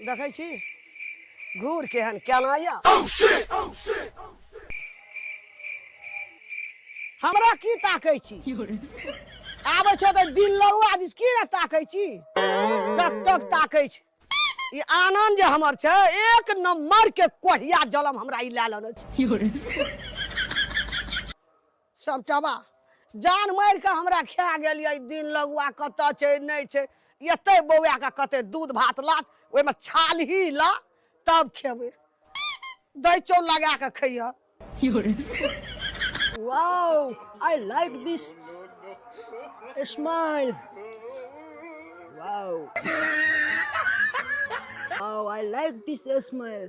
देखै छी घूर केहन केना यऽ हमरा की ताकै छी आबै छौ तऽ दिन लगुआ दिस की ने ताकै छी टक टक ताकै छी ई आनन्द जे हमर छै एक नंबर के कोढ़िया जलम हमरा ई लए लेने छै सब तबाह जान मारि कऽ हमरा खा गेल यऽ दिन लगुआ कतऽ छै नहि छै एतै बौआ कऽ कते दूध भात लात ओहिमे छालही ला तब खेबै दै चौ लगा कऽ खैह wow I like this smile wow wow I like this smile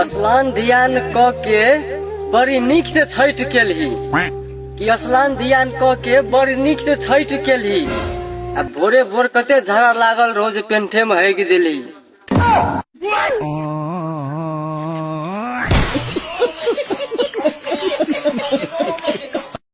असलान ध्यान क के बड़ी नीक से छठ केलही कि असलान ध्यान क के बड़ी नीक से छठ केलही आ भोरे भोर कते झगड़ा लागल रहो जे पेंठे में हगि देली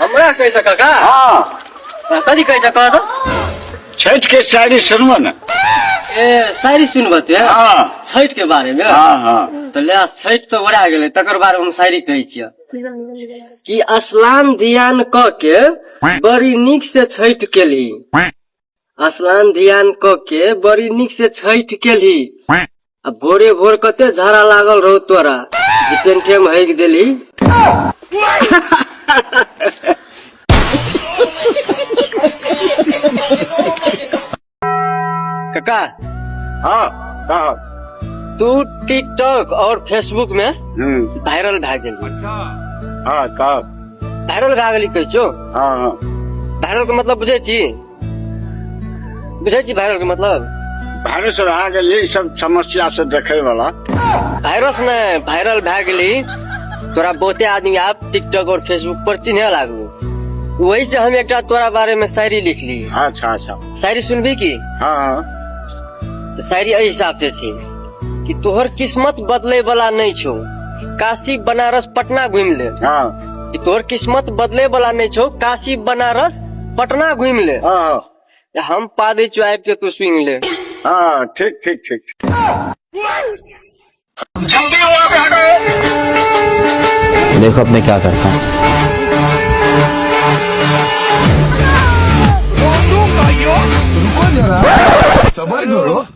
हमरा कहै छ काका हाँ कथी कहै छ कह त छठ के शायरी सुनबो न ए शायरी सुनबो तू हाँ छठ के बारे में हाँ हाँ तो ले छठ तो ओरा गेले तकर बारे में हम शायरी कहै छियै कि असलाम ध्यान क के बड़ी नीक से छठ केली आसमान ध्यान क के बड़ी निक से छठ केली आ भोरे भोर कते झाड़ा लागल रहो तोरा जे पेंठे में हइक देली काका हाँ का तू टिकटॉक और फेसबुक में हम्म वायरल भए गेल हाँ का भाइरल भए गेली कहै छौ हँ हँ भाइरल के मतलब बुझै छी बुझै छी भाइरल के मतलब भाइरस भए गेलै ई सब समस्या से देखै वाला भाइरस ने भाइरल भए गेली तोरा बहुते आदमी आप टिकटॉक और फेसबुक पर चिन्हे लागू वही से हम एकटा तोरा बारे में शायरी लिखली अच्छा अच्छा शायरी सुनबी की हँ हँ तऽ शायरी एहि हिसाब से छै कि तोहर किस्मत बदले वाला नहीं छो काशी बनारस पटना घूम ले हाँ कि तोहर किस्मत बदले वाला नहीं छो काशी बनारस पटना घूम ले हाँ हम पा दे चो आबि के तू सुन ले हाँ ठीक ठीक ठीक देखो अब मैं क्या करता हूँ रुको जरा सबर करो